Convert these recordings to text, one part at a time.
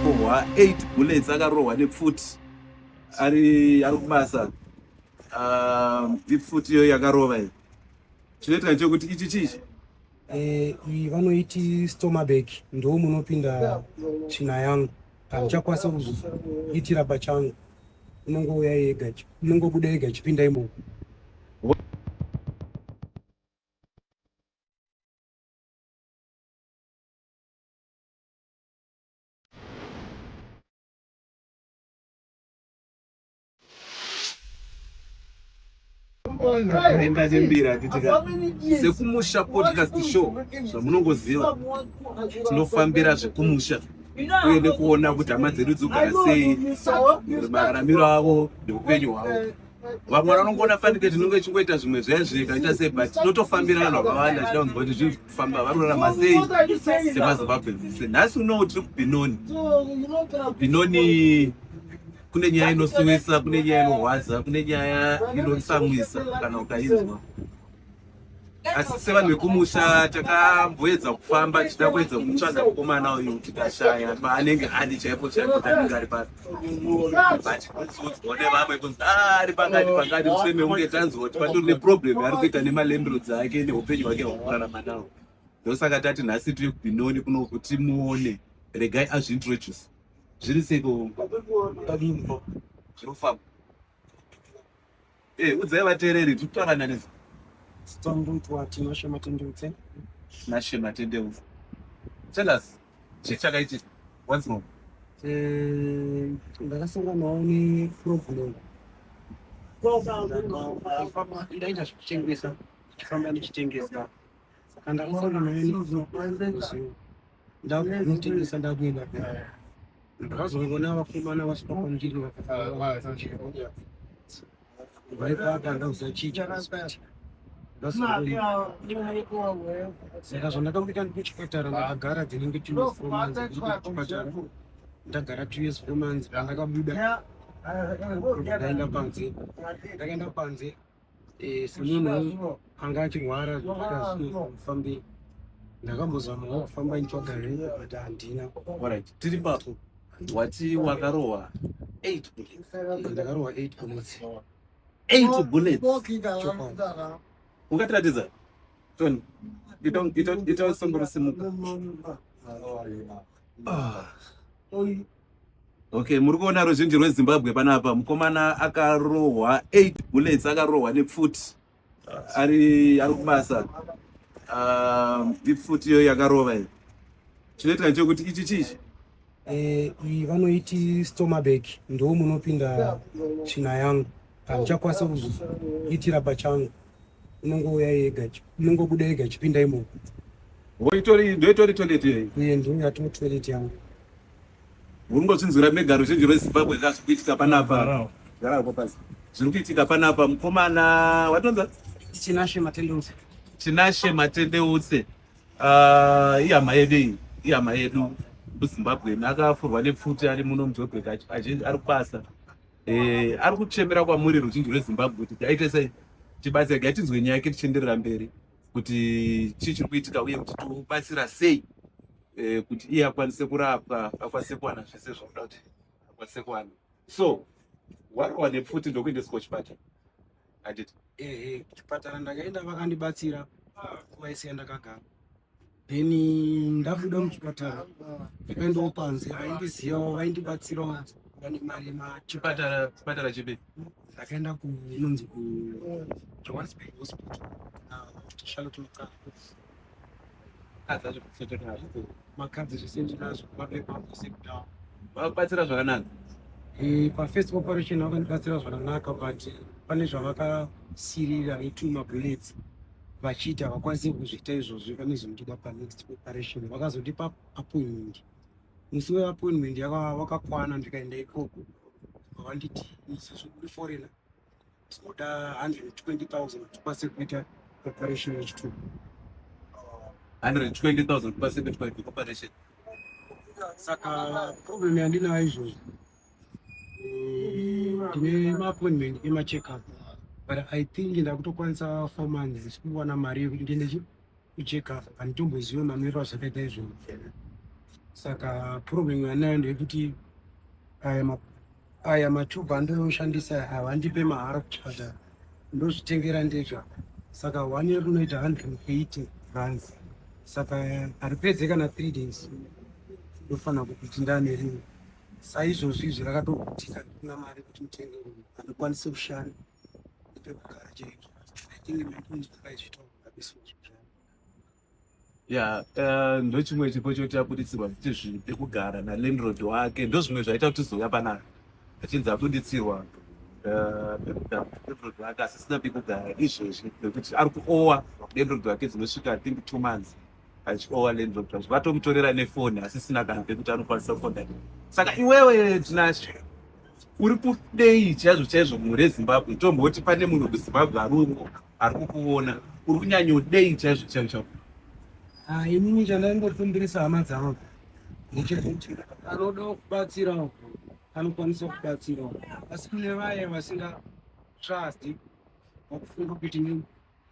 kurohwa 8 bullets akarohwa nepfuti ari ari kubasa ah, ipfuti iyo yakarova iyo chinoitika chekuti ichi chichi eh, vanoiti stomabek ndo munopinda china yangu handichakwanisa kuzviitira pachangu unongouya yega unongobuda yega chipinda imomo enda nembira atitika sekumusha podcast show zvamunongoziva tinofambira zvekumusha uye nekuona kuti hama dzedu dzogara sei mararamiro avo neupenyu hwavo vamwe vana vanongoona fanike tinenge tichingoita zvimwe zvezve kaita sei but tinotofambira vanhu vakawanda tichida kunzwa kuti zviri kufamba vari kurarama sei semazimbabwe dzese nhasi unowo tiri kubinoni binoni kune nyaya inosiwisa kune nyaya inorwadza kune nyaya inotsamwisa kana ukainzwa asi sevanhu vekumusha takamboedza kufamba tichida kuedza kumutsvaga mukomana uyu tikashaya paanenge adi chaipo chaipo tanenge ari pari but kunzoudzwa nevamwe kunzi ah, ari pakati pakati useme unge tanzwa kuti patori neproblem yaari kuita nemalembiru dzake neupenyu hwake hwakurarama nawo ndosaka tati nhasi tiri kubinoni kuno kuti muone regai azviintroduce zviri seiko zvinofamba Hey, eh, udzai vateereri tiri kutaura nani sitondoitwa tinashe matendeutse nashe matendeutse tell us chii chakaitika what's wrong eh, ndakasanganawo neproblem ndaita zvekuchengesa famba ndichitengesa Saka ndakaona mene ndakunotengesa ndakuenda kaya. Ndakazongoona vakomana vasvika kwandiri vakafara vaipaka ndausachicha saka zvandakakuita ndikuchipatara ndakagara dzinenge two years four months ndikuchipatara ndagara two years four months pandakabuda ndakaenda panze ndakaenda panze eh, semunhu anga achirwara zvakazofambei ndakambozamawo kufamba nitsvaga henyu but handina orit tiri papo wati wakarohwa eight bullets eh, ndakarohwa eight bullets eight bullets ungatiratidza tony itosongorosimuka Okay, muri kuona ruzhinji rweZimbabwe panapa mukomana akarohwa 8 bullets akarohwa nepfuti ari ari kubasa um, ipfuti iyo yakarova iyo chinoitika ndechokuti ichi chichi eh, iyi vanoiti stomabek ndoo munopinda china yangu handichakwanisa kuzoitira pachangu unongouya yega unongobuda yega chipinda imomo ndoitori toilet iyoyi iye ndouya to toilet yangu Muringozvinzwira mega ruzhinji rwezimbabwe ka zviri kuitika panapa garapo pasi zviri kuitika panapa mukomana watonza tinashe matendeutse tinashe matendeutse ah, ihama yedu iyi ihama yedu muzimbabweni akafurwa nepfuti ari muno mujobek azhinji ari kubasa eh, ari kuchemera kwamuri ruzhinji rwezimbabwe kuti taite sei tibatsirega tinzwe nyaya yake tichienderera mberi kuti chii chiri kuitika uye kuti tobatsira sei eh, kuti iye akwanise kurapwa akwanise kuwana zvese zvakuda kuti akwanise kuwana so warowa nepfuti ndokuendeswa kuchipatara handiti ehe kuchipatara ndakaenda vakandibatsira kuvaisiya ndakagara then ndabuda muchipatara ndakaendawo panze vaindizivawo vaindibatsirawo vane mari yemachipatara chipi ndakaenda kunonzi kujohannesburg hospital charlotte makadzi makadzi zvese ndinazvo mapepa ose kudawa vakubatsira zvakanaka eh, pafirst operation vakandibatsira zvakanaka but pane zvavakasirira vetuma bullets vachiita havakwanise kuzviita izvozvo vanozomuchida panext preparation vakazotipa appointment musi weappointment wakakwana ndikaenda ikoko vanditi musi zvekuri foreigner tinoda 120000 kuti kwase kuita preparation yechitubu 120000 kuti kwase kuita preparation saka problem yandinayo izvozvo ndine maappointment emacheckup but i think ndakutokwanisa four months zisikuwana mari yekuti ndiende kucheckup handitombozive mamiriro azvakaita izvozvo saka problem yanayo ndeyekuti aya matube andooshandisa havandipe mahara kuchata ndozvitengera ndega saka one year unoita hundred and eighty runs saka haripedze kana three days ndofanira kuti ndanerimwe saizvozvi izvi rakatogutika ndikuna mari kuti mutenge rumu anokwanisa kushanda nepekugara chaizvo i think maikunzwa kaizvitaura besozvo ya eh, ndochimwe chipo choti abuditsirwa kuti zvekugara nalandrod wake ndozvimwe zvaita kuti zouya panaka achinzi abuditsirwa landrod eh, wake asisina pekugara izvezvi nekuti ari kuowa landrod wake dzinosvika think two months achiova landlord zvacho vatomutorera nefoni asisina kana pekuti anokwanisa kufonda saka iwewe tinashe uri kudei chaizvo chaizvo mhuri yezimbabwe tomboti pane munhu wekuzimbabwe arungo ari kukuona uri kunyanyodei chaizvo chaizvo chavo ah, inini chandaingokumbirisa hama dzangu ndechekuti anoda kubatsirawo anokwanisa kubatsirawo asi kune vaye vasinga trust wakufunga kuti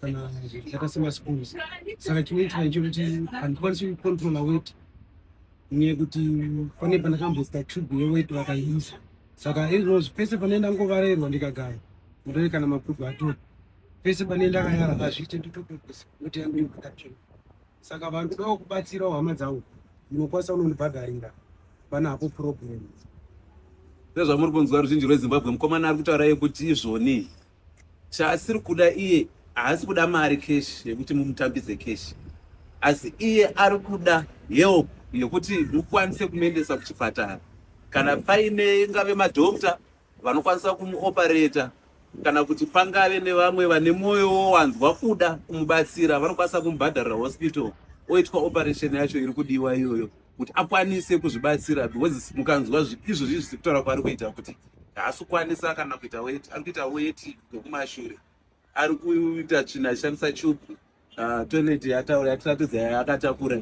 kana zvakaita semaschools saka chinoitika ndechokuti handikwanisi kucontrola weti nyaya yekuti pane pandakamboita tube yeweti vakaisa saka izvozvo e pese pane ndangovarerwa ndikagara mutore kana mabhuku atori pese pane ndakayara hazviite nditopepesa kuti yangu inoatatsvina saka vanhu kudawo kubatsirawo hama dzangu munokwanisa unondibhadharira pana hapo problem ndozvamuri kunzwa ruzhinji rwezimbabwe mukomana ari kutaura yekuti izvoni chaasiri kuda iye haasi kuda mari cash yekuti mumutambidze cash asi iye ari kuda help yekuti mukwanise kumuendesa kuchipatara kana paine ngave madokta vanokwanisa kumuoperata kana kuti pangave nevamwe vane mwoyo wowanzwa kuda kumubatsira vanokwanisa kumubhadharira hospital oitwa operation yacho iri kudiwa iyoyo kuti akwanise kuzvibatsira because mukanzwa izvo zvii zvisi kutaura kwaari kuita kuti haasi kukwanisa kana kuita weti ari kuita weti nekumashure ari kuita tsvina achishandisa chubu ah, toilet yataura yatiratidza yaakatakura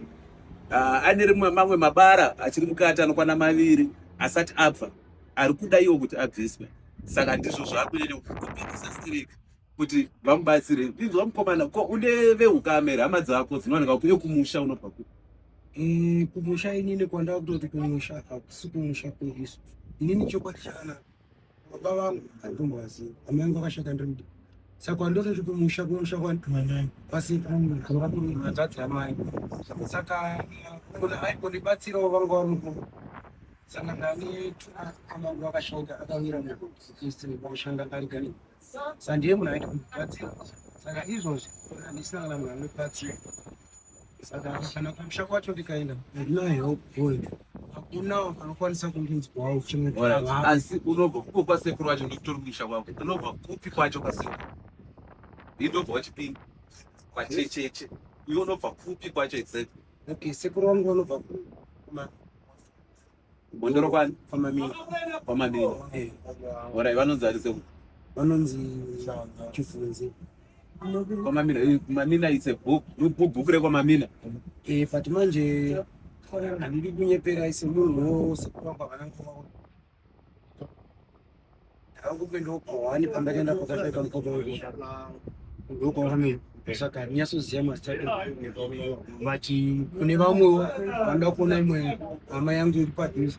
ah, ane rimwe mamwe mabara achiri mukati anokwana maviri asati abva ari kuda iwo kuti abviswe saka ndizvo zvaakunyanya kukumbirisa strike kuti vamubatsire inzwa mukomana ko une veukame here hama dzako dzinowanika kuyo kumusha unobva ku eh, kumusha inini kwandava kutoti kumusha hakusi kumusha kweisu inini chokwadi chakana baba vangu handombovazivi hama yangu akashata ndiri mudii saka andototi kumusha kumusha kwasiatadzi amai saka munhu aikondibatsirawo vanga vamuku saka ndani amangu akashaika akawira mukushanda kari kari sandiye munhu aita kundibatsira saka izvozvi andisina kana munhu anobatsira saka kana kumusha kwacho ndikaenda handina help point hakuna anokwanisa kundiudzwawo uchimweasi unobva kuko kwasekuru wacho ndikutori kumusha kwako unobva kupi kwacho kwasekuru indobva wachipinda kwachecheche iwe unobva kupi kwacho exactly okay sekuru wangu vanobva kuma Bondoro kwani? Kwamamini. Kwamamini. Eh. Ora vanonzi ari seko. Vanonzi chifunzi. Kwamamina, eh, Mamina it's a book. Book book rekwamamina. Eh, but manje handidi kunyepera ise munhu wose kuramba vana ngoma. akupinda kwawani pamba kaenda kwakasvika mukoko ndokwawani saka ndinyasoziva mazita vati kune vamwewo vanoda kuona imwe hama yangu iri padhuze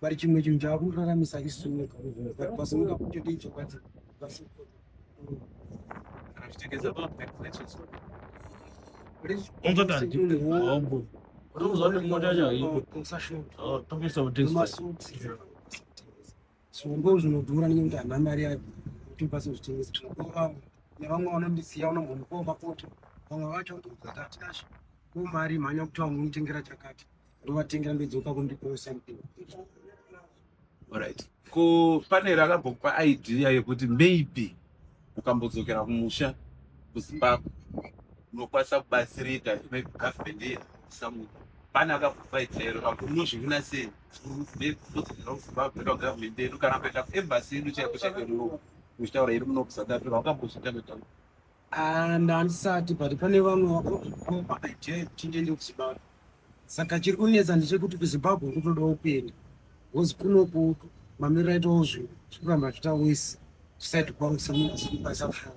vari chimwe chinhu chavakutoraramisa isumu vari pasunga kutoita ichokwadi zvombo zvinodhura nenge kuti hana mari yacho kuti pasi zvitengesa zvinokoa nevamwe vanondisiya unombonikoa mapoto vamwe vacho ndozatati asho ko mari mhanya kuti vamwe unotengera chakati ndovatengera ndodzoka kundiposa right ko panera akambokupa idea yekuti maybe ukambodzokera kumusha kuzimbabwe unokwanisa kubatsirika maybe government here samuti pane akakupa idea iro kakunozvivina sei kudzokera kuzimbabwe ndo government yedu kana kuenda kuembassy yedu chaiko chaiko muno muchitaura iri muno kusatapira wakambozvita kutaura Ah, ndandisati but pane vamwe vakooma idea kuti ndiende kuzimbabwe saka chiri kunetsa ndechekuti kuzimbabwe kutodawo kuenda bcause kunoku mamiriro aitawo zvinhu zvikuramba zviita wese kusati kwausaaaa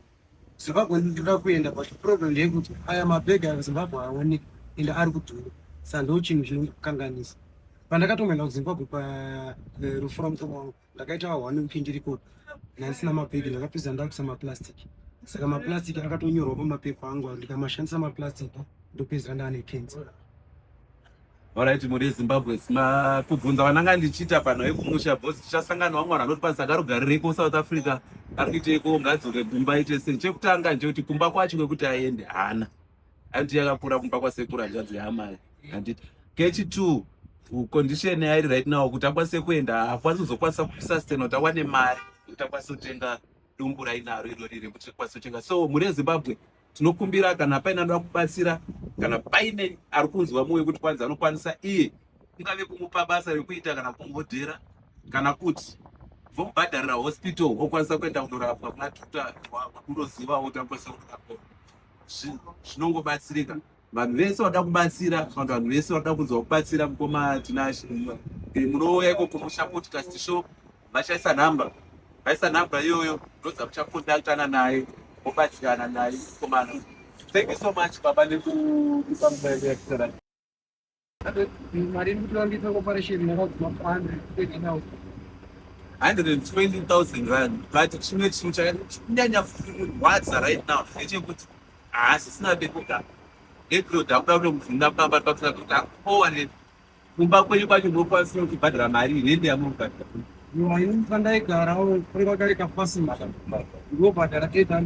zimbabwe ndinoda kuenda but problem ndeyekuti aya mabhega azimbabwe aoneke ende ari kudhura saka ndo chinhu chinokanganisa pandakatomboenda kuzimbabwe parufu eh, ramukoma wangu ndakaita one week ndiriko ndaisina mabhegi ndakapedza ndakuisa maplastic saka maplastic akatonyorwa pamapepa angu ndikamashandisa maplastic ndopedzera ndaane kensa orit muri zimbabwe kubvunza vananga ndichiita pano yekumusha bos tichasangana wamwana anoti pasi akarugarireko south africa ari kuiteiko ngadzoke kumba ite sei chekutanga ndechekuti kumba kwacho kwekuti aende hana handiti yakakura kumba kwasekuru hanzvadzi yaamai handiti kechi two condition yairi right now kuti akwanise kuenda hakwanisi kuzokwanisa kusustain kuti awane mari kuti akwanise kutenga dumbu rainaro irori rekuti akwanise kutenga so mhuri yezimbabwe tinokumbira kana paine anoda kubatsira kana paine ari kunzwa mwoyo kuti kwanzi anokwanisa iye kungave kumupa basa rekuita kana kumhodhera kana kuti vomubhadharira hospital okwanisa kuenda kunorapwa kunatuta kunozivawo kuti akwanisa kunorapwa zvinongobatsirika vanhu vese vanoda kubatsira kana vanhu vese vanoda kunzwa kubatsira mukoma tinashe eh, munouya ikoko musha podcast show vachaisa nhamba vaisa nhamba iyoyo ndodza muchakondaktana naye mobatsirana naye mukomana thank you so much baba nekuipa mubayiro yakutara mari iri kutora kuita koparesheni yakadzima pande kutengenawo 120,000 rand but chimwe chinhu chakanyanya kurwadza right now ndechekuti haasisina pekugara neproda akuda kuno mubvunza kutamba pakusina kuti akuowane kumba kwenyu kwacho mokwanisa kubhadhara mari rende yamokubhadhara aifa ndaigarawo kuri kwakareka pasima ndobhadhara 800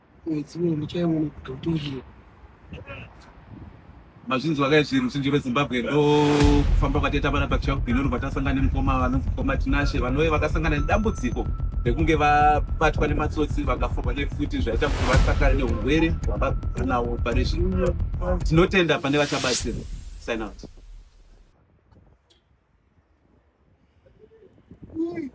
mwedzi uno muchaiona kuti utoriwo mazvinzwa kai zvinhu zhinji vezimbabwe ndokufamba kwataita vana pachaubhinoni kwatasangana nemukoma vanonzi mukoma tinashe vanove vakasangana nedambudziko rekunge vabatwa nematsotsi vakaforwa nefuti zvaita kuti vasakare neurwere hwavabva nawo pane zvino tinotenda pane vachabatsirwa sign out